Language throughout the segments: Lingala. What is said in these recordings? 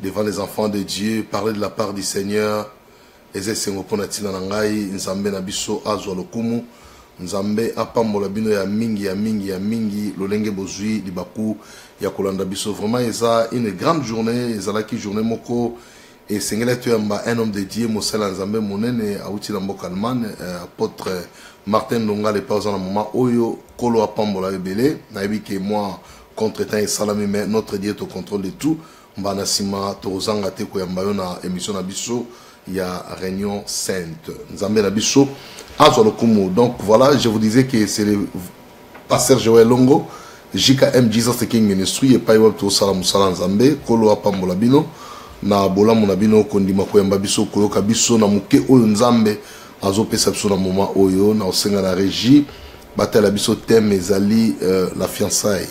devant les enfants de Dieu parler de la part du Seigneur eza esengo mpo na ntina na ngai nzambe na biso azwa lokumu nzambe apambola bino ya mingi ya mingi ya mingi lolenge bozwi libaku ya kolanda biso vraiment eza une grande journée ezalaki journée moko esengeli toyamba un homme de dieu mosala ya nzambe monene awuti na mboka allemagne euh, apôtre martin ndonga lepa oza na moma oyo kolo apambola ebele nayebi ke mwa contre temps esalami mais notre dieu est au contrôle de tout Mbala na nsima, tokozanga te koyamba yo na emission na biso ya Réunion Sainte. Nzambe na biso azwa lokumu. Donc voilà, je vous disais que c'est le pasteur Joël Longo, JKM Jesus the King Ministry, epai wapi tokosala mosala Nzambe, kolo apambola bino na bolamu na bino kondima koyamba biso koyoka biso na moke oyo nzambe azopesa biso na moma oyo na osenga na régie batala biso teme ezali euh, la fiançaille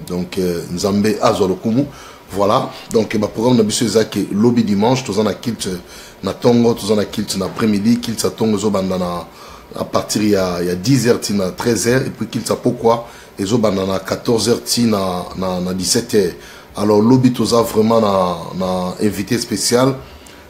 donc euh, nzambe azwa lokumu voilà donc baprogramme na biso eza ke lobi dimanche toza na kilte na ntongo toza na kilte na après midi kilte ya ntongo ezobanda na à partir ya, ya 10 heures tina 13 heures epuis kilte ya pokwa ezobanda na 14 heures tina na, na 17 heures alors lobi toza vraiment na, na invité spécial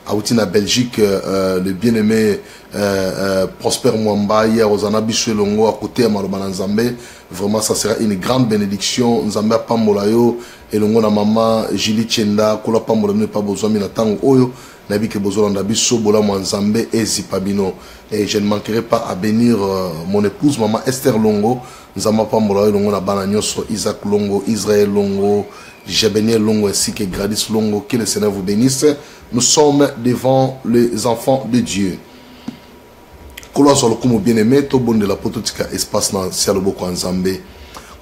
awuti na belgique euh, le bien aimé euh, euh, prosper mwamba ye akozala na biso elongo akoteya maloba na nzambe vraiment ça sera une grande bénédiction nzambe apambola yo elongo na mama julie chenda kolo apambola bino epa bozwami na ntango oyo nayebi ke bozolanda biso bolamu ya nzambe ezipa bino et je ne manquerai pas à bénir euh, mon épouse mama esther longo Nzambe apambola yo elongo na bana nyoso Isaac Longo, Israël Longo, Jebenie Longo ainsi que Gradis Longo. Que le Seigneur vous benisse. Nous sommes devant les enfants de Dieu. Kolo azwa lokumu bien aimé to bondela poto tika espace na sia loboko ya Nzambe.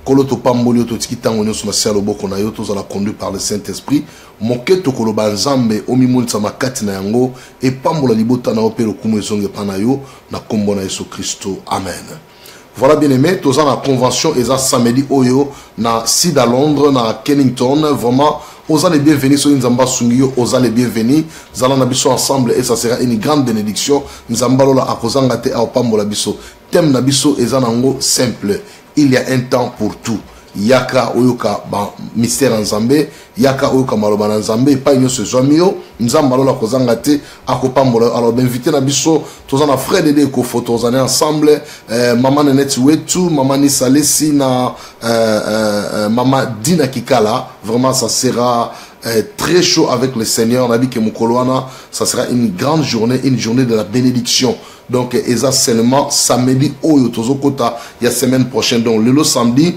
Kolo to pamboli yo totiki tango nyoso na sia loboko na yo tozala conduit par le Saint-Esprit. Moke tokoloba Nzambe omimonisa makati na yango epambola libota na yo mpe lokumu ezonge pa na yo na kombo na Yesu Kristo. Amen. Voilà bien aimé, tous en la convention et ça samedi oyo na Sud à Londres, na Kennington, vraiment aux les bienvenus sur Nzamba Sungio, aux les bienvenus, zala na biso ensemble et ça sera une grande bénédiction. Nzamba lola akozanga te au pambo la biso. Thème na biso et zanango simple. Il y a un temps pour tout. Yaka oyoka ba mystère Nzambe Yaka oyoka maloba na Nzambe epai nyonso ezwami yo. Nzambe alola kozanga te akopambola yo. Alors b'invite na biso toza na Fred Ede Ekofo tozali ensemble eh, mama Nenette Wetu, mama Nisa Lesi na eh, eh, eh mama Dina Kikala. Vraiment ça sera eh, très chaud avec le Seigneur. Nabi ke mokolo wana ça sera une grande journée, une journée de la bénédiction. Donc eza seulement samedi oyo tozokota ya semaine prochaine. Donc lelo samedi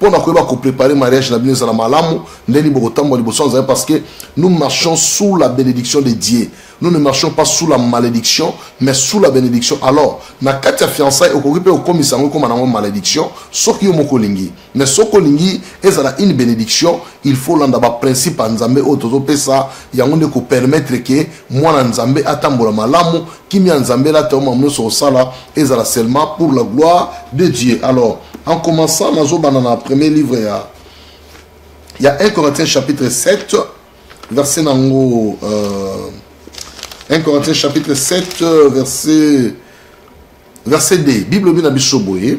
mpo na koyeba koprepare mariage na bino ezala malamu ndeni bokotambola liboso ya nzambe parce que nous marchons sous la bénédiction de dieu nous ne marchons pas sous la malédiction mais sous la bénédiction alors na kati ya fiançai okoki mpe okomisa yango ekoma nango malédiction soki yo moko olingi mais soki olingi ezala une bénédiction il faut olanda baprincipe ya nzambe oyo tozopesa yango nde kopermettre ke mwana nzambe atambola malamu kimia nzambe elata yo mamu nyonso osala ezala seulement pour la gloire de dieu alors en commençant nazobanda na premier livre ya ya 1 corinthiens chapitre 7 verset nango euh, 1 corinthiens chapitre 7 verset verset 2 bible elobi na biso boye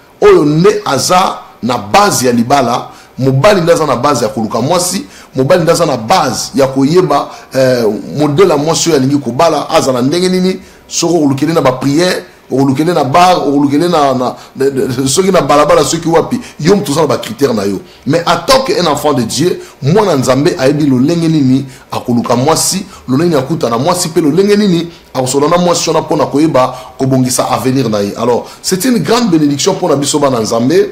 Oyo nde aza na base ya libala, mobali nde aza na base ya koluka mwasi, mobali nde aza na base ya koyeba eh, modele ya mwasi oyo alingi kobala azala ndenge nini, soki okolukele na bapriere okolukele na bar okolukele na, na, na, soki na balabala soki wapi yo moto oza na bacritère na yo mais atant que un enfant de dieu mwana nzambe ayebi lolenge nini akoluka mwasi lolenge nini akutana mwasi mpe lolenge nini Akosolola na mwasi wana mpo na koyeba kobongisa avenir na ye. Alors, c'est une grande benediction mpo na biso bana Nzambe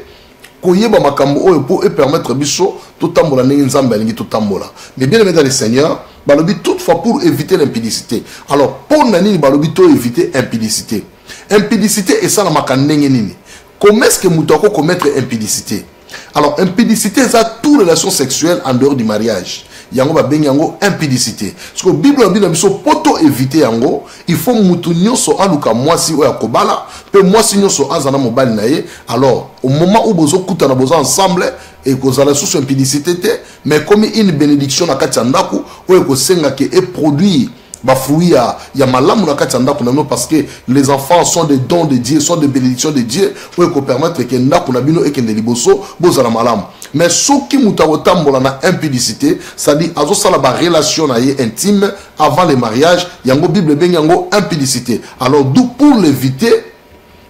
koyeba makambo oyo mpo epermettre biso totambola ndenge Nzambe alingi totambola. Mais bien aimé dans le Seigneur, balobi toutefois pour éviter l'impudicité. Alors, mpo na nini balobi to éviter impudicité? Impudicité esalamaka ndenge nini? Comment est-ce que mutu ako commettre impudicité? Alors impudicité eza tout relation sexuelle en dehors du mariage. Yango ba bengi yango impudicité. Parce que Bible lobi na biso poto éviter yango, il faut mutu nyonso aluka mwasi oyo akobala pe mwasi nyonso azana mobali na ye. Alors au moment où bozo kutana bozo ensemble et ekozala susu impudicité te mais comme une bénédiction na kati ya ndako oyo ekosenga ke e produire ba fruits ya, ya malamu na kati ya ndako na bino parce que les enfants sont des dons de Dieu sont des bénédictions de Dieu oyo ekopermettre ke ndako na bino ekende liboso bozala malamu mais soki moto akotambola na impudicité c'est-à-dire azosala barelation na ye intime avant le mariage yango bible ebengi yango impudicité alors d'où pour l'éviter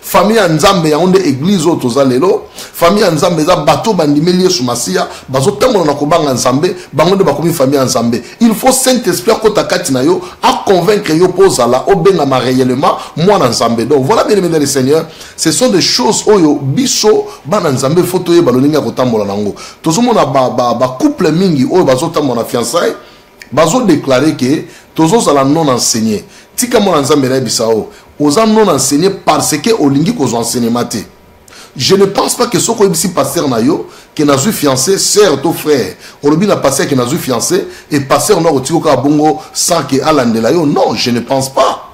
Famille ya Nzambe yango nde eglise oyo toza lelo. Famille ya Nzambe eza bato bandimeli Yesu Masiya, bazotambola na kobanga Nzambe, bango nde bakomi famille ya Nzambe. Il faut Saint-Esprit akota kati na yo, a convaincre yo mpo ozala obengama réellement mwana Nzambe. Donc voilà bien aimé dans le Seigneur, ce sont des choses oyo biso bana Nzambe faut toyeba lolenge ya kotambola nango. Tozomona ba, ba, ba couple mingi oyo bazotambola na fiançailles bazo declare ke tozozala non enseigné tika mwana nzambe nayebisa o oza non enseigné parce que olingi kozwa enseignement te je ne pense pas que soki oyebisi pasteur na yo ke nazwi fiancé sœur to frère olobi na pasteur ke nazwi fiancé e pasteur no akotika kaka bongo sans ke alandela yo non je ne pense pas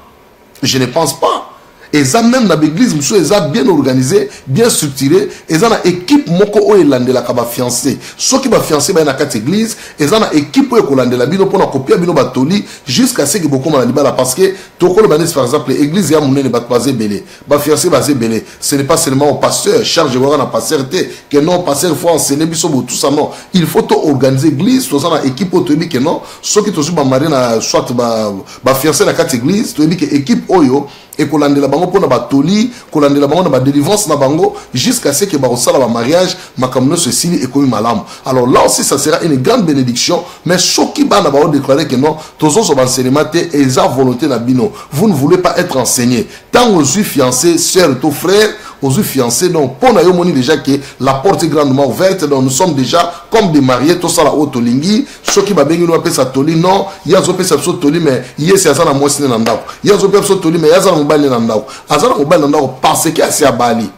je ne pense pas eza même na baeglise mosusu eza bien organisé bien structuré eza na équipe moko oyo elandelaka bafiancé soki bafiancé baye na kati église eza na équipe oyo ekolandela bino mpona kopia bino batoli jusqu'à seke bokoma na libala parce que tokoloba neti par exemple église ya monene bato baza ebele bafiancé baza ebele ce n'est pas seulement au pasteur charge ekoyaka na pasteur te que non pasteur faut enseigner biso botusa non il faut to organiser église toza na équipe oyo toyebi que non soki tozwi bamarie na soit ba bafianse na kati eglise toyebi ke ekipe oyo ekolandela bango mpo na batoli kolandela bango na badelivrance na bango jusqu'à ce que bakosala bamariage makambo nyonso esili ekomi malamu alors là aussi ça sera une grande bénédiction mais soki bana baodeklare ke non tozozwa baenseignement te eza volonté na bino vous ne voulez pas être enseigné ntango ozwi fiancé sœur to frère aux fiancés donc pour yo déjà que la porte est grandement ouverte donc nous sommes déjà comme des mariés tout ça la haute lingi soki babengi no apesa toli non ye azopesa biso toli me ye si aza na mwasi ne na ndako ye azopesa biso toli me ye aza na mobali ne na ndako aza na mobali na ndako parce que asi abali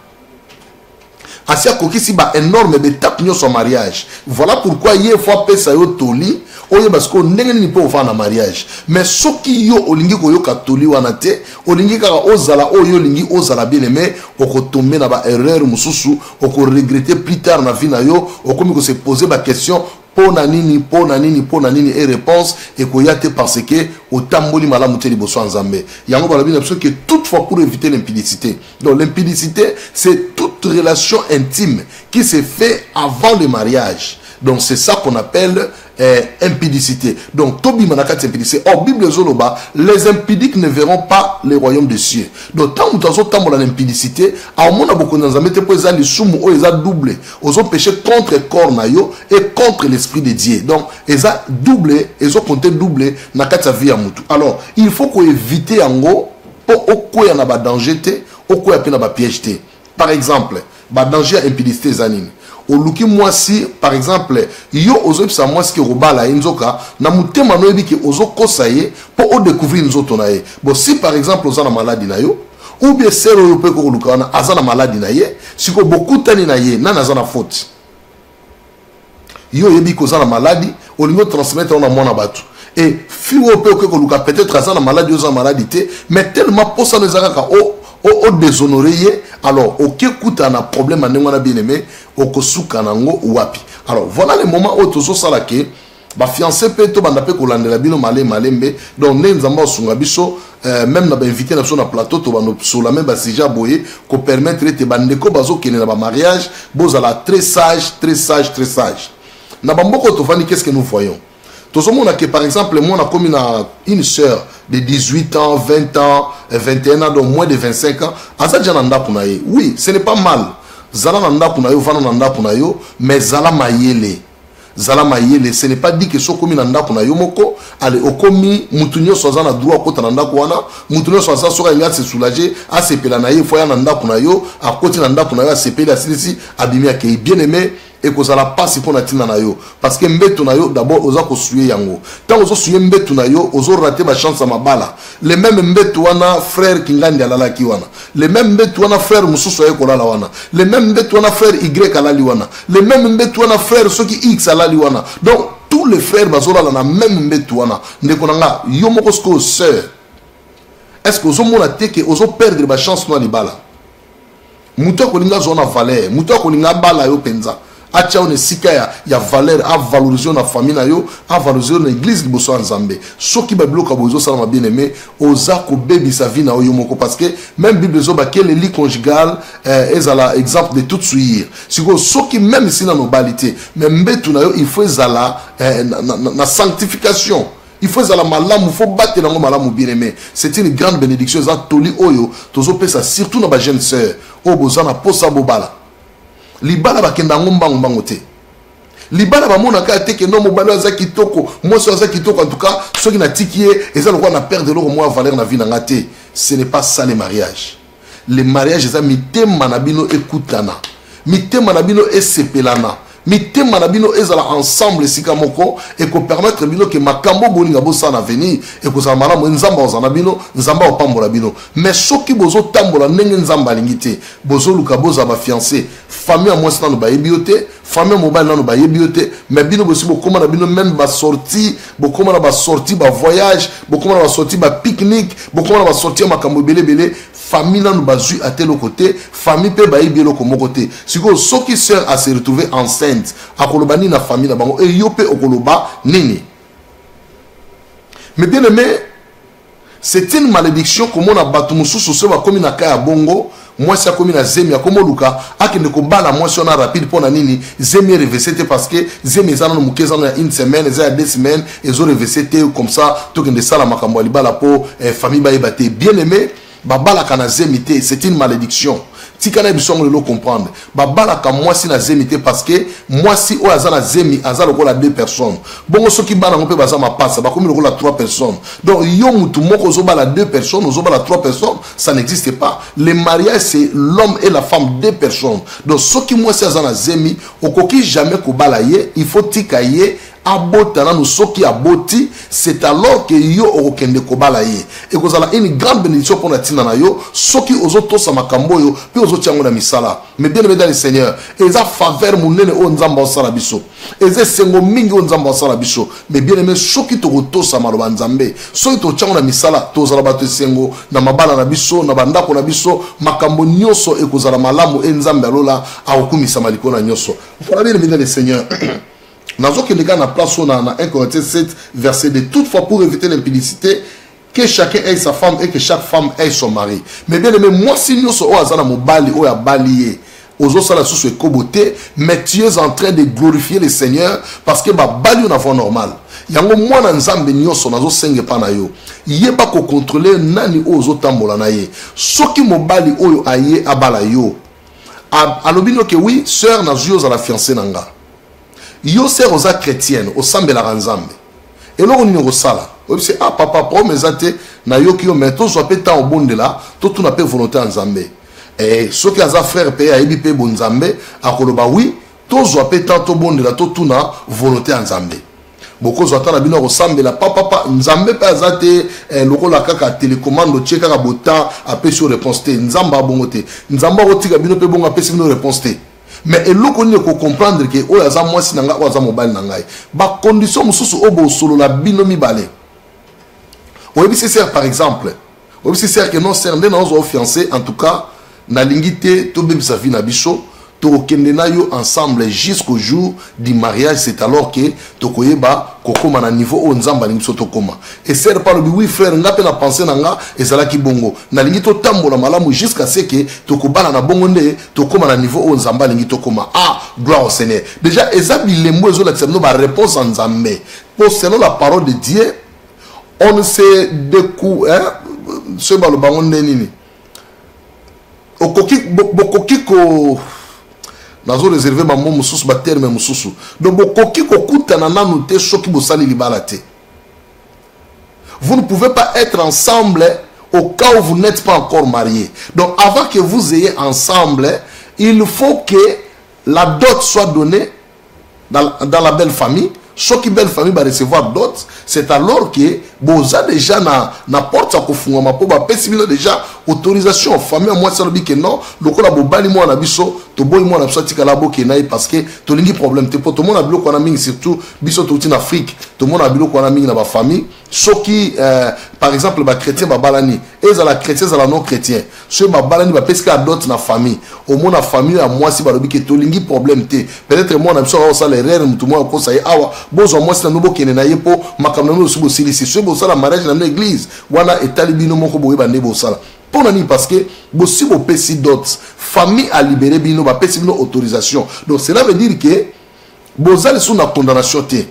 asi akokisi ba énorme betape nyonso ya mariage voilà pourquoi ye fo apesa yo toli oyeba sikoyo ndenge nini mpo ofanda na mariage mais soki yo olingi koyoka toli wana te olingi kaka ozala oyo olingi ozala bien aime okotombe na baerreur mosusu okoregrete plus tard na vie na yo okomi kose pose baquestion mpo na nini mpo na nini mpo na nini e réponse ekoya te parce que otamboli malamu te liboso ya nzambe yango balobi na biso que toute fois pour éviter l'impudicité donc l'impudicité c'est toute relation intime qui se fait avant le mariage donc c'est ça qu'on appelle eh, impudicité donc tobima na kati ya impudicité or bible ezoloba les impudiques ne verront pas le royaume des cieux donc ntango moto azotambola na impudicité aomona bokonzi ya nzambe te mpo eza lisumu oyo eza double ozo peche contre corps na yo et contre l'esprit de dieu donc eza double ezo compte double na kati ya vie ya mutu alors il faut koevite yango mpo okweya na badanger te okweya mpe na bapiège te par exemple badanger ya impudicité eza nini oluki mwasi par exemple yo ozoyebisa mwasi ke obala ye nzoka na motema noyebi ke ozokosa ye mpo odecouvrir nzoto na ye bon si par exemple oza na maladi na yo ou bien sere oyo mpe kokoluka wana aza na maladi na ye sikoyo bokutani na ye nani aza na foti yo oyebi koza na maladi olingi otransmettre na mwana bato e fi oyo mpe okoki koluka peut-être aza na maladi oza na maladi te mais tellement mposano eza kaka odeshonore ye alors oke kutana na problème ya ndenge wana bien aimé okosuka na yango wapi alors voilà le moment oyo tozosala ke ba fiancé pe to banda pe kolandela bino male male mbe donc nde nzambe osunga biso euh, même na ba invité na biso na plateau to bando sola même ba sujet boye ko permettre ete ba ndeko bazo kende na ba mariage bozala très sage très sage très sage na ba mboko to vani qu'est-ce que nous voyons tozomona ke par exemple mwana akomi na une sœur de 18 ans 20 ans 21 ans donc moins de 25 ans aza deja na ndako na ye oui ce n'est pas mal zala na ndako na yo vanda na ndako na yo mais zala mayele zala mayele ce n'est pas dit que soki okomi na ndako na yo moko ale okomi mutu nyonso aza na droit akota na ndako wana mutu nyonso aza soki alingi ase soulager asepela na ye fo aya na ndako na yo akoti na ndako na yo asepeli asilisi abimi akei bien aimé ekozala mpasi mpo na ntina na yo parce que mbeto na yo d'abord oza kosuye yango ntango ozosuye mbeto na yo ozorate bachance ya mabala le meme mbeto wana frère kingandi alalaki wana le même mbetu wana frère mosusu aye kolala wana le même mbetu wana frère y alali wana le même mbetu wana frère soki x alali wana donc tous les frères bazolala na même mbetu wana ndeko na nga yo moko sikoyo sœur est ce que ozomona te ke ozoperdre bachance no ya libala moto akolinga azwa na valeur moto akolinga abala yo mpenza atia yo na esika ya, ya valeur avalorise yo na famille na yo avalorise yo na église liboso ya nzambe soki babiloko ya boye ezosalama bien aime oza kobebisa vie na yo yo moko parce que même bible ezoba ke leli conjugal eh, ezala exemple de tout suir sikoyo soki même si na nobali te mais mbetu na yo il faut ezala eh, na, na, na sanctification il faut ezala malamu faut batela yango malamu bien aime c'est une grande bénédiction eza toli oyo tozopesa surtout na bajeune sœur oyo boza na mposa bobala libala bakenda yango mbangu mbangu te libala bamonaka te kendo mobali aza kitoko mwasi aza kitoko en tout cas soki natiki ye eza lokola na perdre eloko mwa valeur na vie na nga te ce n'est pas ça le mariage le mariage eza mitema na bino ekutana mitema na bino esepelana mitema na bino ezala ensemble esika moko ekopermettre bino ke makambo bolinga bosala na avenir ekozala malamu nzambe akozala na bino nzambe akopambola bino mais soki bozotambola ndenge nzambe alingi te Bozoluka bozala ba fiances famille ya mwasi nanu bayebi yo te famille ya mobali nanu bayebi yo te mais bino bosi bokoma na bino meme ba sortie bokoma na ba sortie ba voyage bokoma na ba sortie ba pique-nique bokoma na ba sortie ya makambo ebele ebele famille nanu bazwi ata eloko te famille mpe bayebi eloko moko te sikoyo soki sœur a se retrouver enceinte akoloba nini na famille na bango e yo mpe okoloba nini mais bien aimé C'est une malediction komona bato mosusu se bakomi na ka ya bongo mwasi akomi na zemi akomoluka akende kobala mwasi wana rapide mpo na nini zemi erevese te parce que zemi eza nano moke eza nano ya une semaine eza ya deux semaines ezo revese te comme ça tokende sala makambo ya libala mpo eh, famille bayeba te bien aimé babalaka na zemi te c'est une malédiction tika na biso yango lelo comprendre babalaka mwasi na zemi te parce que mwasi oyo aza na zemi aza lokola deux personnes bongo soki bana yango mpe baza mapasa bakomi lokola trois personnes donc yo mutu moko ozobala deux personnes ozobala trois personnes ça n'existe pas le mariage c'est l'homme et la femme deux personnes donc soki mwasi aza na zemi okoki jamais kobala ye il faut tika ye abota nanu soki aboti c'est alors que yo okokende kobala ye ekozala une grande bénédiction mpo na ntina na yo soki ozotosa makambo oyo mpe ozotia yango na misala mais bien aimé dans le seigneur eza faveur monene oyo nzambe asala biso eza esengo mingi oyo nzambe asala biso mais bien aimé soki tokotosa maloba nzambe soki totia yango na misala tozala bato esengo na mabala na biso na bandako na biso makambo nyonso ekozala malamu e nzambe alola akokumisama likolo na nyonso voilà bien aimé dans le seigneur nazokende kaka na place oyo na 1 corinthiens 7 verset 2 toutefois pour éviter l'impudicité que chacun ait sa femme et que chaque femme ait son mari mais bien aimé mwasi nyonso oyo aza na mobali oyo abali ye ozosala susu ekobo te mais tu es en train de glorifier le seigneur parce que babali yo na voie normale yango mwana nzambe nyonso nazosenga epa na yo yeba kokontrole nani oyo ozotambola na ye soki mobali oyo aye abala yo alobi noke wi sœur nazwi ozala fiance na nga yo sere oza chretienne osambelaka nzambe eloko nini okosala oyebisi ah papa problème eza te nayoki yo mai tozwa mpe ntango obondela totuna mpe volonté ya nzambe e, soki aza frère mpe ayebi mpe bonzambe akoloba wi tozwa mpe ntango tobondela totuna volonté ya nzambe bokozwa ata na bino akosambela papapa nzambe mpe aza te eh, lokola kaka telecommande otie kaka botemp apesi yo réponse te nzambe abongo te nzambe akotika bino mpe bongo apesi bino réponse te mais eloko nini ko comprendre ke oyo aza mwasi na ngai oyo aza mobali na ngai bacondition mosusu oyo bosolola bino mibale oyebisi ser par exemple oyebisi ser ke non ser nde naozwa ofiance en tout cas nalingi te tobebisa vie na biso tokokende na yo ensemble jusqu'au jour du mariage c'est alors ke tokoyeba kokóma na niveau oyo nzambe alingi biso tokóma esere mpe alobi wi frère nga mpe na pense na nga ezalaki bongo nalingi totambola malamu jusqu'à ce ke tokobala na bongo nde tokóma na niveau oyo nzambe alingi tokóma ah gloire au seigneur déjà eza bilembo ezolakisa bino baréponse ya nzambe mpo selon la parole de dieu on ne se decou soki baloba yango nde nini okoki bokoki ko nazo réserve bango mosusu baterme mosusu donc bokoki kokutana nanu te soki bosali libala te Vous ne pouvez pas être ensemble au cas où vous n'êtes pas encore marié. Donc avant que vous ayez ensemble, il faut que la dot soit donnée dans, dans la belle famille. Ce qui belle famille va recevoir dot, c'est alors que boza déjà na na porte à kofunga ma poba pesi bino déjà autorisation famille moi ça que non, lokola bobali moi na biso, to boy moi na biso tika la boke naï parce que to lingi problème te poto moi na biloko na mingi surtout biso touti na afrique tomonaka biloko wana mingi na bafamille soki euh, par exemple bachrétien babalani ezala chrétien ezala non chrétien soki babalani bapesi kaka dote na famille omona famille ya mwasi balobi ke tolingi problème te peut-être mwana na biso aka kosala erreur motu moko akosa ye awa bozwa mwasi na bino bokende na ye mpo makambo na bino osi bosilisi soki bosala mariage na bino église wana etali bino moko boyeba nde bosala mpo na nini parce que bosi bopesi dote famille alibere bino bapesi bino autorisation donc cela veut dire que boza lisusu na condamnation te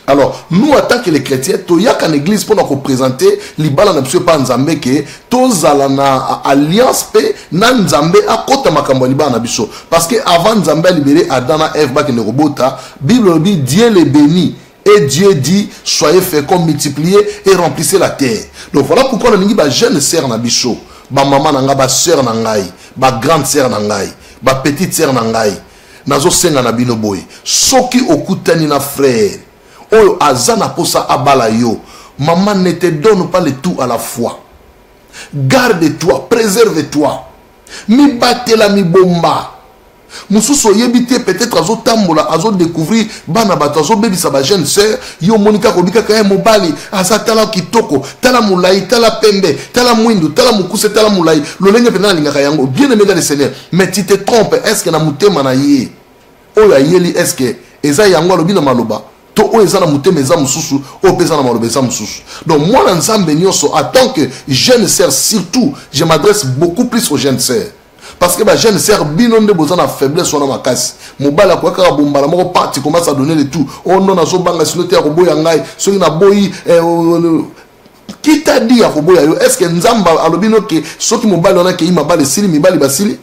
alors nous en tant que les chrétiens toyaka na église mpona kopresente libala na biso epa nzambe ke tozala na alliance mpe na nzambe akota makambo ya libala na biso parce que avant nzambe alibere adam na eve bakende kobota bible elobi dieu le béni et dieu dit soyez fécond multiplier et remplissez la terre donc voilà pourquoi nalingi bajeune sœur na biso bamama na ngai basœur na ngai bagrande sœur na ngai bapetite sœur na ngai nazosenga na bino boye soki okutani na frère oyo aza na posa abala yo maman ne te donne pas le tout à la fois garde toi préserve toi mibatela mibomba mosusu oyebi te peut-être azotambola azodécouvrir bana bato azobebisa bajeune sœur yo omoni kaka obi kaka ye mobali aza tala kitoko tala molai tala pembe tala mwindu tala mokuse tala molai lolenge mpenza nalingaka yango bien aimé dans le seigneur mais tu te trompe est ce que na motema na ye oyo ayeli est ce que eza yango alobi na maloba to oyo eza na motema eza mosusu oyo mpe eza na maloba eza mosusu donc mwana nzambe nyonso en tant que jeune sœur surtout je m'adresse beaucoup plus aux jeunes sœurs parce que bajeune sœur bino nde boza na faiblesse wana makasi mobali akoya kaka bombala moko parti commence à donner le tout o oh non nazobanga sino te akoboya ngai soki naboyi eh, oh, oh, qui t'a dit ya koboya yo est ce que nzambe alobi no ke soki mobali wana akei mabala esili mibali basili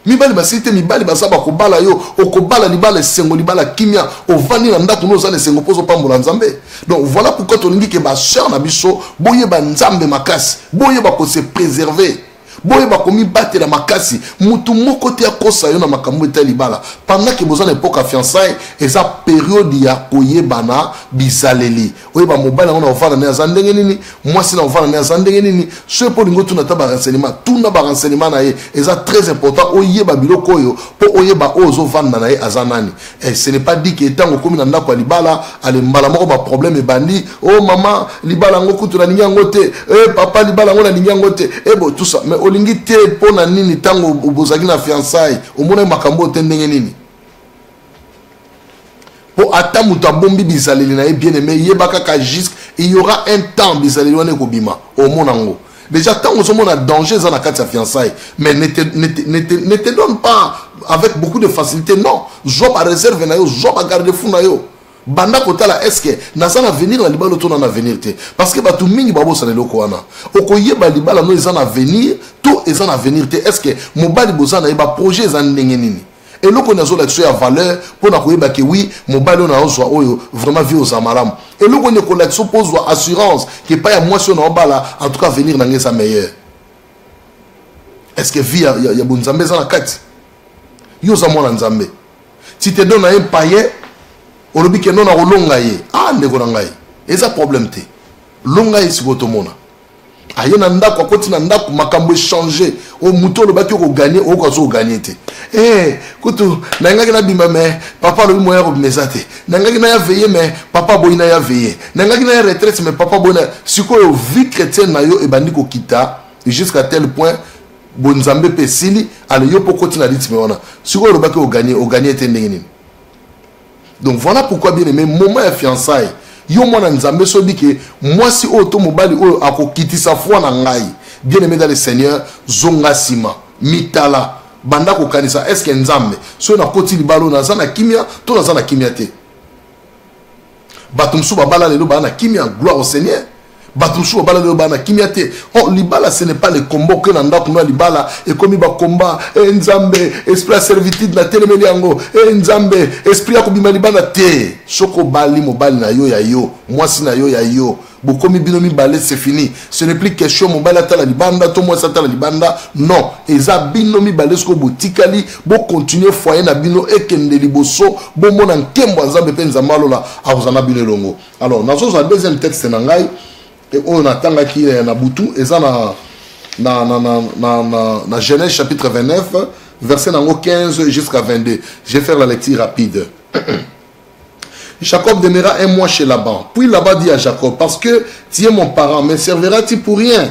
mibali basili te mibali baza bakobala yo okobala libala esengo libala kimia ovandi na ndako no oza na esengo mpo ozopambola nzambe donc voilà pourquoi tolingi ke baseur na biso boyeba nzambe makasi boyeba kose préserver boyeba komibatela makasi motu moko te akosa yo na makambo etali libala pandaki boza na epoka fiançai eza periode ya koyebana bizaleli oyeba mobali yango na ovanda ne aza ndenge nini mwasi na ovanda ne aza ndenge nini soki mpo olingi otuna ata barenseignement tuna barenseignement na ye eza très important oyeba biloko oyo mpo oyeba oyo ozovanda na ye aza nani Eh, ce n'est pas dit que ntango okomi na ndako ya libala ale mbala moko baproblème ebandi o oh, mama libala yango kutu nalingi yango te e eh, papa libala yango nalingi yango te e bo tout ça mais olingi te mpo na nini ntango bozalaki na fiançaille omonaki makambo oyo te ndenge nini mpo ata moto abombi bizaleli na ye bien aimé yeba kaka jusque il y aura un temps bizaleli wana ekobima omona yango Déjà, tant que nous a danger dans la carte de fiançailles, mais ne te, ne, te, ne, te, ne te donne pas avec beaucoup de facilité. Non, job à réserve, job à garde fou. banda kotala eske naza na avenir na libala to na na avenir te parce que bato mingi babosana eloko wana okoyeba libala no eza na avenir to eza na avenir te eske mobali boza na ye baprojet eza ndenge nini eloko nini azolakisa ya valeur mpo na koyeba ke wi mobali oyo naozwa oyo vraiment vie oza malamu eloko nini ekolakisa mpo ozwa assurance ke epai ya mwasi oyo naobala en tout cas avenir na ngai eza meilleur est ce que vie ya, ya, ya bonzambe eza na kati yo oza mwana nzambe ti te dona ye mpaye olobi ke no nakolonga ye ah ndeko na ngai eza problème te longa ye sikoyo tomona aye na ndako akoti na ndako makambo echange o moto olobaki okoganye oyoka azo oganye te e eh, kutu nayingaki nabima me papa alobi moya kobima eza te nayingaki naya veye me papa aboyi naya veye nayingaki naya retraite me papa aboyi na sikoyo vie chrétienne na yo ebandi kokita jusqu'à tel point bonzambe mpe esili ale yo mpo okoti na ritme wana sikoyo olobaki oganye oganye te ndenge nini donc voilà pourquoi bien aimé moment ya fiançaille yo mwana nzambe soyebi ke mwasi oyo to mobali oyo akokitisa foi na ngai bien aimé dans le seigneur zonga nsima mitala banda kokanisa eske nzambe soki nakoti libala oyo naza na kimia to naza na kimia te bato mosusu babala lelo baa na kimia gloire au seigneur bato mosusu babala lelo bana kimia te o oh, libala ce n'est pas le combo oke na ndako na libala ekomi bakomba e eh, nzambe esprit ya servitude na telemeli yango e eh, nzambe esprit ya kobima libanda te soki obali mobali na yo ya yo mwasi na yo ya yo bokomi bino mibale c'est fini ce n'est plus question mobali atala libanda to mwasi atala libanda non eza bino mibale soki botikali bokontinue foyer na bino ekende liboso bomona nkembo ya nzambe mpe nzambe alola akozala na bino elongo alors nazozwa deuxième texte na ngai e oyo natangaki eh, na butu eza na na, na, na, na, na, na genèse chapitre 29 verset na yango 15 jusqu'à 22 je vais faire la lecture rapide Jacob demeura un mois chez Laban. Puis Laban dit à Jacob, parce que tu es mon parent, me serviras-tu pour rien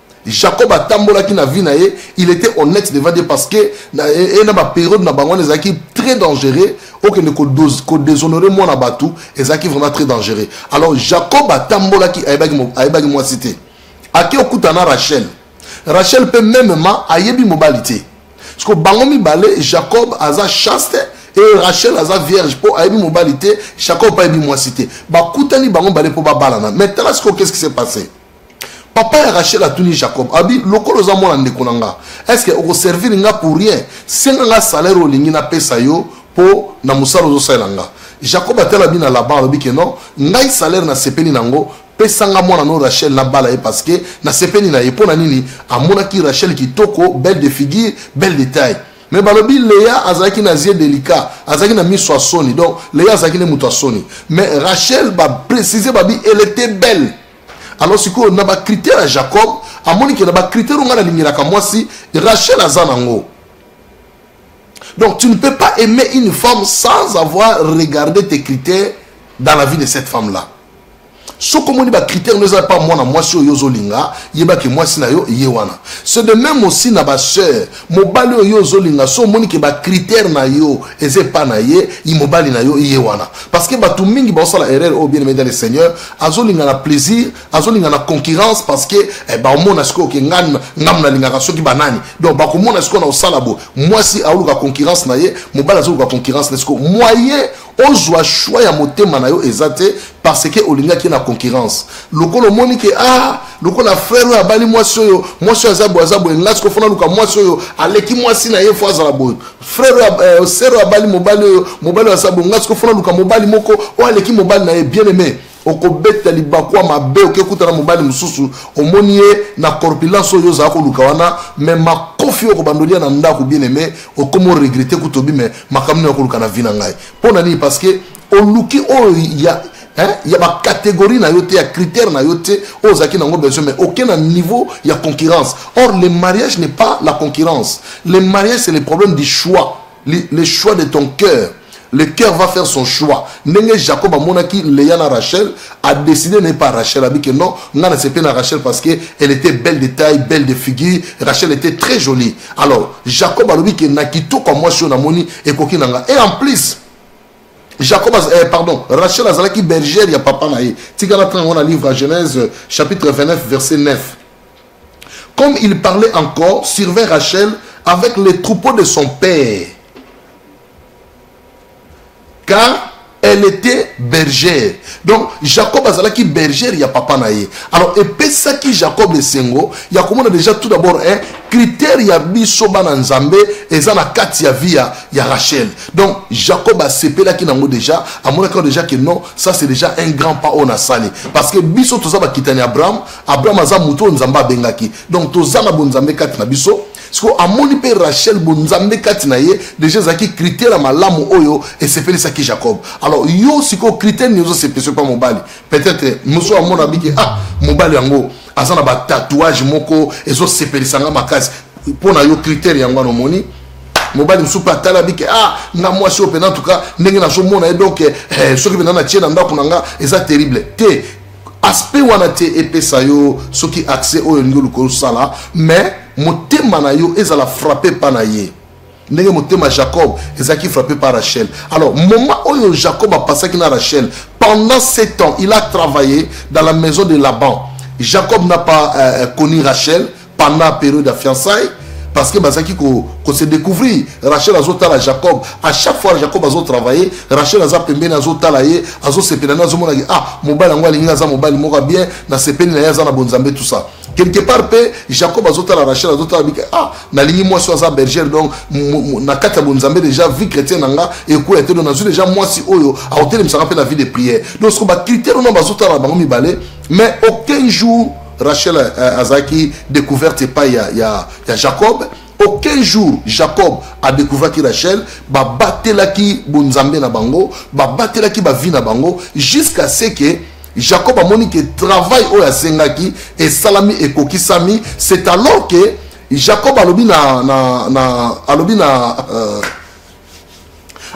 Jacob atambolaki na vie na ye, il était honnête devant Dieu parce que na e, e, na ba période na bango ezalaki très dangereux, okende ko dose ko déshonorer mwana batu, ezalaki vraiment très dangereux. Alors Jacob atambolaki ayebaki ayebaki mwasi te. Ake okuta na Rachel. Rachel pe même ma ayebi mobali te. Parce que bango mibale Jacob aza chaste et Rachel aza vierge po ayebi mobali te, Jacob ayebi mwasi te. Bakutani bango mibale po babalana. Mais tala siko qu'est-ce qui s'est passé? papa ya rachel atuni jacob abi lokola oza mwana ndeko na nga estce okoservir nga pour rien senga nga salaire olingi napesa yo mpo na mosala ozosalela nga jacob atala bi na laban alobi ke non ngai salaire nasepeli na yango pesanga mwana no rachel nabala ye parce que nasepeli na ye mpo na nini amonaki rachel kitoko belle de figure belle de taille me balobi lea azalaki na zie delicat azalaki na miso ya soni donc lea azalaki nde moto ya soni mais rachel baprécise babi elle était belle alors sikoyo na bacritère ya jacob amoni ke na bacritère oyo ngai nalingelaka mwasi rachel aza nango donc tu ne peux pas aimer une femme sans avoir regardé tes critères dans la vie de cette femme là soki omoni bacritère no eza pa mwana mwasi oyo ozolinga yebaki mwasi na yo ye wana c'est de même aussi na basœur mobali oyo ozolinga so omoni ke bacritère na yo eza epa na ye i mobali na yo iye wana parce que bato mingi baosala erreur oyo bien aimé dans le seigneur azolinga na plaisir azolinga na concurrence parce que eh, baomona sikoyo ke ngani ngamu nalingaka soki banani donc bakomona sikoyo na osala bo mwasi aoluka concurrence na ye mobali azoluka concurrence na sikoyo moye ozwa choix ya motema na yo eza te parce que olingaki ye na concurrence lokola omoni ke ah lokola frère oyo abali mwasi oyo mwasi oyo aza boye aza boye ngai sikoyo fona luka mwasi oyo aleki mwasi na ye fo azala boye frère oyo eh, sere oyo abali mobali oyo mobali oyo aza boye ngai sikoyo fona luka mobali moko oyo aleki mobali na ye bien aimé okobeta libaku ya mabe okekuta na mobali mosusu omoni ye na corpulence oyo ozala koluka wana me makofi oyo kobandoli ya na ndako bien aime okomi oregrete kutu obi me makambo nini okoluka na vi na ngai mpo na nini parce que oluki oyo ya hein, ya bacatégorie na yo te ya critère na yo te oyo ozalaki nango besoin mais oke na niveau ya concurrence or le mariage n'est pas la concurrence le mariage c'est le problème du choix le choix de ton cœur le cœur va faire son choix ndenge jacob amonaki leya na rachel adécide na ye par rachel abi ke non ngai nasepe na rachel parce que elle était belle de taille belle de figure rachel était très jolie alors jacob alobi ke na kitoko ya mwasi oyo namoni ekoki na ngai et en plus jacob eh, pardon rachel azalaki bergère ya papa na ye tika na ntango yango na livre ya genèse chapitre 29 verset 9 Comme il parlait encore, surveille Rachel avec les troupeaux de son père. Car elle était bergère. Donc Jacob azalaki bergère ya papa na ye. Alors epesaki Jacob esengo ya komona déjà tout d'abord un hein, critère ya biso bana Nzambe eza na kati ya vie ya, ya Rachel. Donc Jacob asepelaki nango déjà, amonaki déjà que non, ça c'est déjà un grand pas on a sali parce que biso toza bakitani Abraham abraham aza moto oyo nzambe abengaki donc toza na bonzambe kati na biso sikoyo amoni mpe rachel bonzambe kati na ye deja ezalaki kritere ya malamu oyo esepelisaki jacob alors yo sikoyo kritere nini ozosepelisa mpa mobali peut-être mosu amona biki ah mobali yango aza na batatouage moko ezosepelisa nga makasi mpo na yo kritere yango wana omoni mobali mosusu mpe atala bike ah nga mwasi oyo mpe na tuka ndenge nazomona ye donc eh, soki mpenza na tie na ndako na nga eza terrible te aspect wana te epesa yo soki accès oyo olingi oluka osala mais motema na yo ezala frappe pa na ye ndenge motema jacob ezalaki frappe par rachel alors moment oyo jacob apasaki na rachel pendant sept ans il a travaillé dans la maison de laban jacob n'a pas euh, euh connu rachel pendant période ya fiançaille parce que bazalaki kose découvrir rachel azotala jacob à chaque fois jacob azotravaille rachel aza pembeni azotala ye azosepela nde azomonaki ah mobali yango alingi aza mobali moko ya bien nasepeli na ye aza na bonzambe tout ça quelque part mpe jacob azotala rachel azotala bika ah nalingi mwasi oyo aza bergere donc na kati ya bonzambe déjà vie chrétienne na nga ekwela te donc nazwi déjà mwasi oyo akotelemisa nga mpe na vie de prière donc soko bacritère wana bazotala na bango mibale mais aucun jour Rachel euh, euh, azalaki découverte epai ya, ya, ya Jacob aucun jour Jacob a découvert qui Rachel babatelaki bonzambe na bango babatelaki bavi na bango jusqu'à ce que Jacob a monique que travail oyo asengaki esalami ekokisami c'est alors que Jacob alobi na, na, na alobi na euh,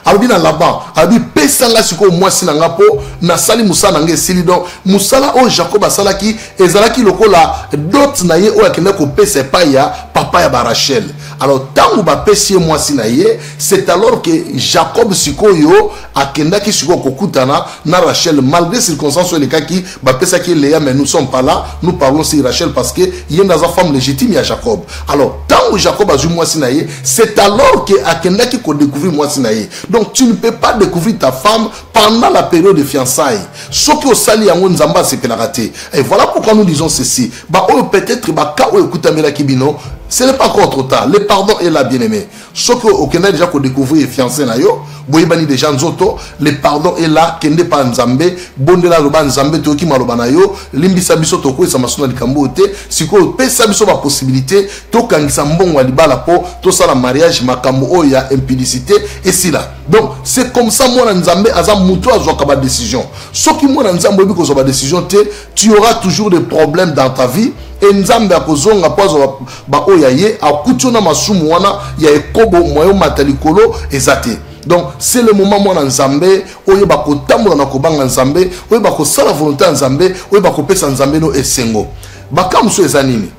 alobi na laban alobi pesa ngai sikoyo mwasi na ngai mpo nasali mosala na ngai esili donc mosala oyo jacob asalaki ezalaki lokola dot na ye oyo akendaki kopesa epai ya papa ya barachel alors ntango bapesi ye mwasi na ye c'est alors que jacob sikoyo akendaki sikoyo kokutana na rachel malgré circonstance oyo elekaki bapesaki ye lea mais nous sommes pas là nous parlons sur rachel parce que ye nde aza femme légitime ya jacob alors ntango jacob azwi mwasi na ye c'est alors ke akendaki kodécouvrir mwasi na ye donc tu ne peux pas découvrir ta femme pendant la période de fiançaille soki osali yango nzambe asepelaka te et voilà pourquoi nous disons ceci baoyo peut-être baka oyo ekutamelaki bino ce n'est pas encore trop tard le pardon est là bien aimé soki okenda deja kodecouvrir fiancé na yo boyebani deja nzoto le pardon est là kende pa nzambe bondela aloba nzambe toyoki maloba na yo limbisa biso tokweyisa maso na likambo oyo te sikoyo pesa biso bapossibilité tokangisa mbongo ya libala mpo tosala mariage makambo oyo ya impudicité esila donc c'est comme ça mwana nzambe aza moto azwaka badécision soki mwana nzambe oyebi kozwa badécision te tu auras toujours des problèmes dans ta vie e nzambe akozonga mpo azwa baoyo ya ye akuti yo na masumu wana ya ekobo mwayo mata likolo eza te donc c'est le moment mwana nzambe oyeba kotambola na kobanga nzambe oyeba kosala volonté ya nzambe oyeba kopesa nzambe no esengo makambo mosusu eza nini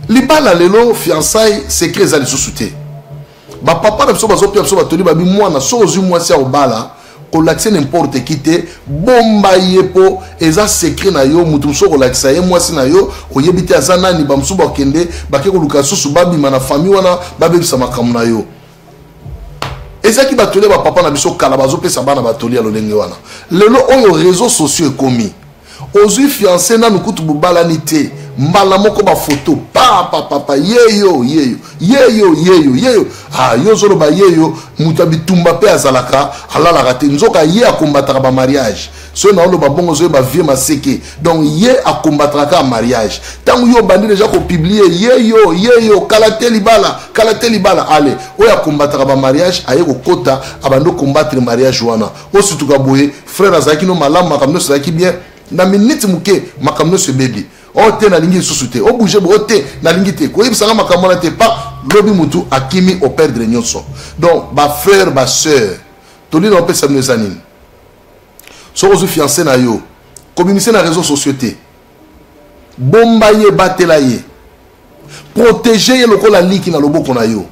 libala lelo fiançaille secret eza lisusu te ba papa na biso bazopia biso batoli babi mwana soki ozwi mwasi ya kobala kolakisa n'importe qui te bomba ye mpo eza secret na yo moto mosusu okolakisa ye mwasi na yo oyebi te aza nani bamosusu bakende bake koluka susu babima na famille wana babebisa makambo na yo ezalaki batoli ya bapapa na biso kala bazopesa bana batoli ya lolenge wana lelo oyo réseau sociaux ekomi Ozui fiance nanu kutu bobalani te mbala moko ba photo papa papa yeyo yeyo yeyo yeyo yeyo ah yo zoloba yeyo moto ya bitumba mpe azalaka alalaka te nzoka ye akombataka ba mariage soki naoloba bongo ozoyeba vie maseke donc ye akombataka kaka mariage ntango yo obandi deja kopiblie yeyo yeyo kala te libala kala te libala ale oyo akombataka ba mariage aye kokota abandi okombattre mariage wana osituka boye frère azalaki no malamu makambo nyonso ezalaki bien na minute moke makambo nyonso ebebi o oh, te nalingi lisusu te obouge oh, bo o oh, te nalingi te koyebisa nga makambo wana te pa lobi motu akimi operdre nyonso donc bafrère basœur toli na opesa bino eza nini soki ozwi fiance na yo kobimisa na réseau sociaux te bomba ye batela ye protege ye lokola liki na loboko na yo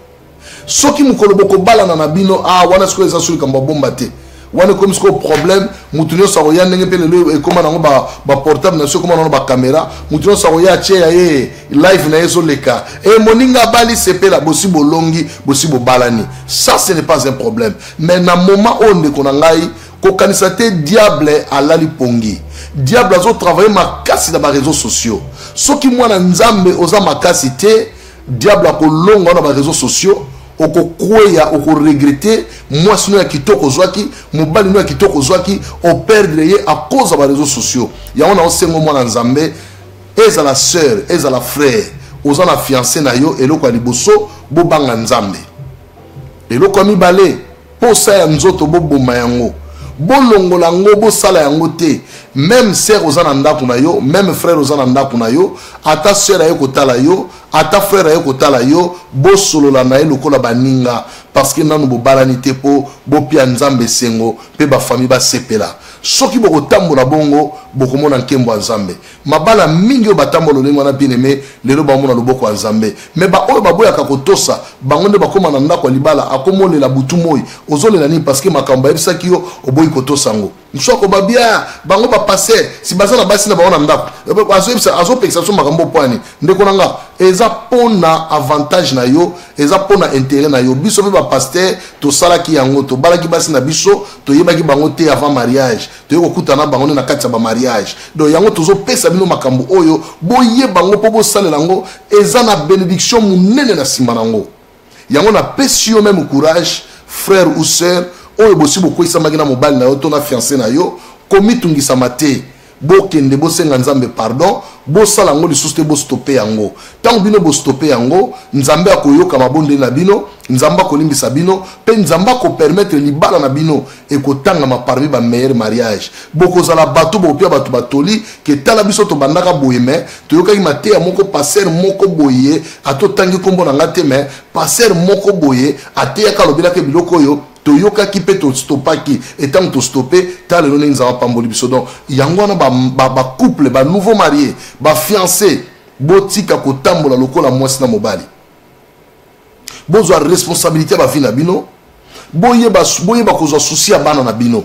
soki mokolo bokobalana na bino ah, wana sikoyo eza so likambo ya bomba te wana ekomi sikoyo problème moto nyonso akoya ndenge mpe lelo ekóma nango baportable na biso ekóma nango bakamera moto nyonso akoya atie ya ye live na ye ezoleka e eh, moninga abali sepela bosi bolongi bosi bobalani ça ce n'est pas un problème mais na moment oyo ndeko na ngai kokanisa te diable alali pongi diable azo travaille makasi na bareseau sociaux soki mwana nzambe oza makasi te diable akolonga na bareseau sociaux okokweya okoregrete mwasi no ya kitoko ozwaki mobali no ya kitoko ozwaki operdre ye akoza bareseau sociaux yango na osengo mwana nzambe ezala sœur ezala frère oza na fiance na yo eloko ya liboso bobanga nzambe eloko ya mibale posa ya nzoto boboma yango bolongola yango bosala yango te meme sere oza na ndako na yo meme frere oza na ndako na yo ata sere aye kotala yo ata frere aye kotala yo bosolola na ye lokola baninga parceke nanu bobalani te mpo bopia nzambe esengo mpe bafami basepela soki bokotambola bongo bokomona nkembo ya nzambe mabala mingi oyo batambwa lolenge wana bien aime lelo bamona loboko ya nzambe me baoyo baboyaka kotosa bango nde bakóma na ndako ya libala akomolela butu moi ozolela nini parceke makambo bayebisaki yo oboyi kotosa yango mosusu akoba bia bango bapaster si baza na basi na bango na ndako azopekisa biso makambo poani ndeko na nga eza mpo na avantage na yo eza mpo na intérêt na yo biso mpe bapaster tosalaki yango tobalaki basi na biso toyebaki bango te avant mariage toye kokutana bango nde na kati ya bamariage donc yango tozopesa bino makambo oyo boyeba yango mpo bosalela yango eza na benediction monene na nsima na yango yango napesi yo meme courage frère ou sœur oyo bosi bokweisamaki na mobali na yo to na fiance na yo komitungisama te bokende bosenga nzambe pardon bosala yango lisusu te bostope yango ntango bino bostope yango nzambe akoyoka mabondeli na bino nzambe akolimbisa bino mpe nzambe akopermetre libala na bino ekotangama parmi ba meilleur mariage bokozala bato bopia bato batoli ke tala biso tobandaka boye me toyokaki mateya moko paster moko boye ata otangi nkombo na nga te me paster moko boye ateyaka alobelaka biloko oyo toyokaki mpe tostopaki etango tostope ta lelo ndenge nzambe apamboli biso donc yango wana bacouple ba, ba, ba nouveau marie bafiance botika kotambola lokola mwasi na mobali bozwa responsabilité ya bavi na bino boyeba boyeba kozwa susi ya bana na bino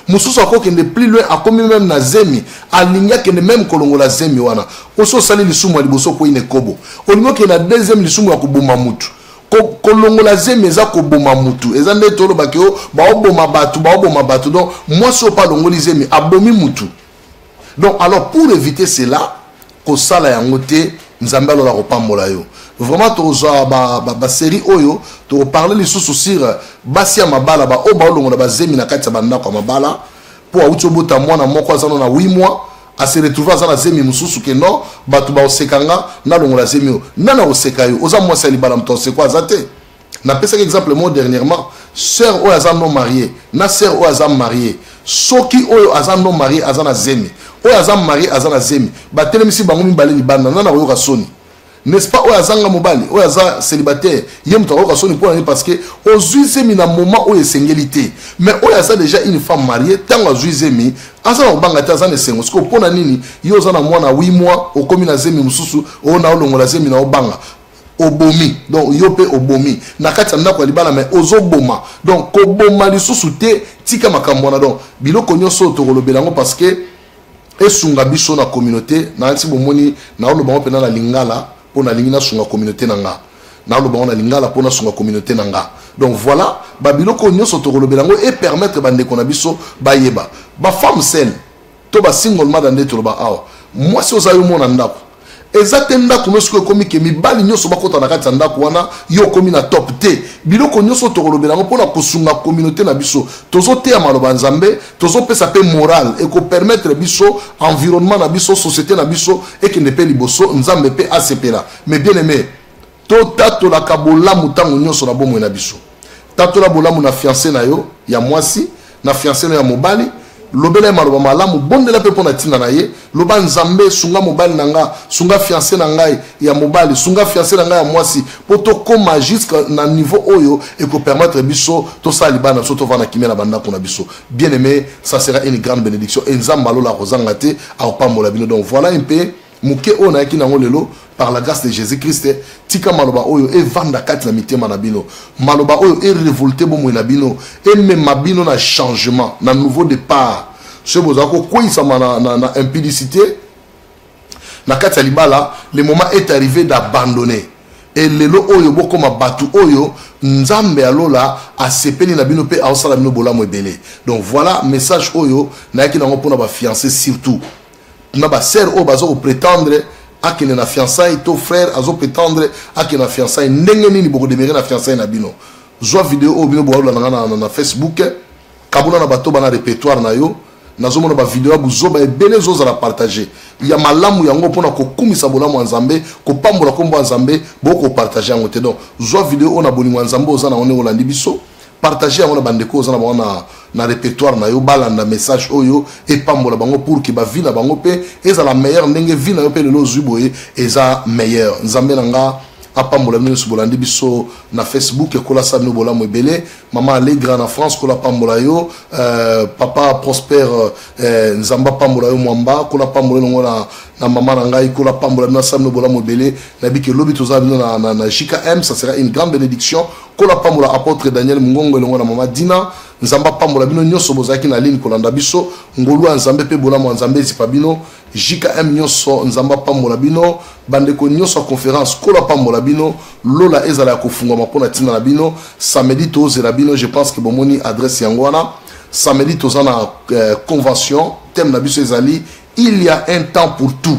mosusu akokende plus loin akomi meme na zemi alingi akende meme kolongola zemi wana osi osali lisumu ya liboso okwei na ekobo olingi okende na deuxième lisumu ya koboma mutu kolongola zemi eza koboma mutu eza nde tolobaki o oh, baoboma bato baoboma bato donc mwasi oyo mpe alongoli zemi abomi mutu donc alors pour éviter cela kosala yango te nzambe alola akopambola yo vraiment tokozwa basérie ba, ba oyo tokoparle lisusu sur euh, basi ya mabala baoyo baolongola bazemi na kati ya bandako ya mabala mpo auti obota mwana moko azano na 8 mois ase retrouve aza na zemi mosusu ke non bato baoseka nga nalongola zemi oyo nani akoseka yo oza mwasi ya libala moto aosekwa aza te napesaki exemple moko dernièrement sœur oyo aza non marie na sœur oyo aza marie soki oyo aza non marie aza na zemi oyo aza marie aza na zemi batelemisi bango mibale libanda nana koyoka soni n'est-ce pas oyo azanga mobali oyo aza célibataire ye moto akoyoka soni mpo na ye parce que ozwi zemi na moment oyo esengeli te mais oyo aza déjà une femme mariée ntango azwi zemi aza na kobanga te aza na esengo sikoyo mpo na nini yo oza na mwana 8 mois okomi na zemi mosusu oyo na olongola zemi na obanga obomi donc yo mpe obomi na kati ya ndako ya libala mai ozoboma donc koboma lisusu te tika makambo wana donc biloko nyonso oyo tokolobela yango parce que esunga biso na communauté na nti bomoni naoloba yango mpena na lingala mpo nalingi nasunga communauté na nga naoloba yango na lingala mpo nasunga communauté na nga donc voilà babiloko oyo nyonso tokolobela yango epermettre bandeko na biso bayeba bafemme sele to ba single mother nde toloba awa mwasi oza yo mona ndako eza te ndako nyonso oyo ekomi ke mibali nyonso bakota na kati ya ndako wana yo okomi na top te biloko nyonso tokolobela yango mpona kosunga communauté na biso tozoteya maloba ya nzambe tozopesa mpe moral ekopermettre biso environnement na biso société na biso ekende mpe liboso nzambe mpe asepela mais bien aimé totatolaka bolamu ntango nyonso na bomoi na biso tatola bolamu na fianse na yo ya mwasi na fianse na yo ya mobali lobela ye maloba malamu bondela mpe mpo na ntina na ye loba nzambe sunga mobali na nga sunga fianse na ngai ya mobali sunga fianse na ngai ya mwasi mpo tokóma jusque na niveau oyo ekopermettre biso tosala libala na biso tovanda na kimia na bandako na biso bien aimé ça sera une grande bénédiction e nzambe alola akozanga te akopambola bino donc voilà mpe moke oyo nayaki nango lelo par la grâce de jésus christ tika maloba oyo evanda kati na mitema na bino maloba oyo erevolte bomoi na bino emema bino na changement na nouveau départ soki bozala kokweisama na, na, na impudicité na kati ya libala le moment est arrivé d'abandonner e lelo oyo bokoma bato oyo nzambe ya lola asepeli na bino mpe aosala bino bolamu ebele donc voilà message oyo nayaki nango mpona bafiance surtout na ba sœur oyo bazo pretendre akende na fiançaille to frère azo pretendre akende na fiançaille ndenge nini boko demere na fiançaille na bino zwa video oyo bino boalola na nga na facebook kabula na bato bana repertoire na yo nazomona bavideo ya buzoba ebele ezozala partage ya malamu yango mpo na kokumisa bolamu ya nzambe kopambola nkombo ya nzambe bokopartage yango te donc zwa video oyo na bolingo ya nzambe oza na yango ndenge olandi biso partage yango na bandeko oza na bango na, na repertoire na yo balanda message oyo epambola bango pour ke bavi na bango mpe ezala meilleur ndenge vi na yo mpe lelo ozwi boye eza meilleur nzambe na nga apambola bino nyonso bolandi biso na facebook ekolasa bino bolamu ebele mama allegra na france kola pambola yo euh, papa prosper euh, nzambe apambola yo mwamba kola pambola elongo na, na mama na ngai kola pambola bino asala bino bolamu ebele nayebi ke lobi tozala bino na, na, na jkm ça sera une grande bénédiction Nkolo apambola apotre Daniel Mungongo elongo na mama Dina. Nzambe apambola bino nyonso bozalaki na ligne kolanda biso. Ngolu ya Nzambe mpe bolamu ya Nzambe ezipa bino. JKM nyonso Nzambe apambola bino. Bandeko nyonso ya conference Nkolo apambola bino. Lola ezala ya kofungwama mpo na ntina na bino. Samedi tozela bino, je pense que bomoni adresse yango wana. Samedi toza na euh, convention, thème na biso ezali il y a un temps pour tout.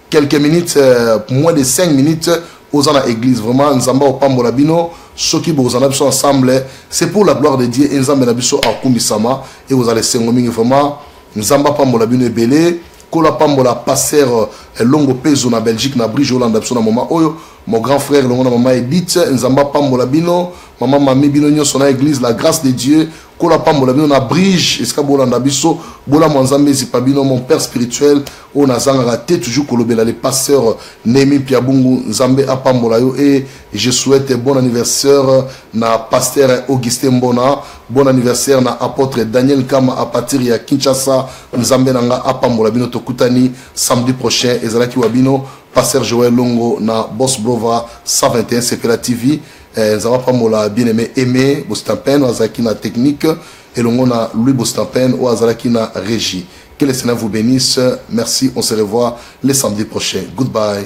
quelques minutes euh, moins de 5 minutes oza na église vraiment nzambe akopambola bino soki bokozala na biso ensemble c'est pour la gloire de dieu e nzambe na biso akumisama e kozala esengo mingi vraiment nzambe apambola bino ebele nkolo apambola paster euh, longo pezo na belgique na brige olanda biso na moma oyo mon grand frère longo na mama edite nzambe apambola bino mama mami bino nyonso na église la grâce de dieu nkolo apambola bino na brige esika bolanda biso bolamu ya nzambe ezipa bino mon père spirituel oyo nazangaka te toujours kolobela le pasteur nemi piabungu nzambe apambola yo e je souhaite bon anniversaire na pasteur augustin mbona bon anniversaire na apôtre daniel kama à partir ya kinshasa nzambe na nga apambola bino tokutani samedi prochain ezalaki wa bino pasteur joel longo na bos brova 121 sepela tv Eh, nzambe apambola bien aimé aimé bostampen oyo azalaki na technique elongo na louis bostampen oyo azalaki na régie que le seigneur vous bénisse merci on se revoit le samedi prochain goodbye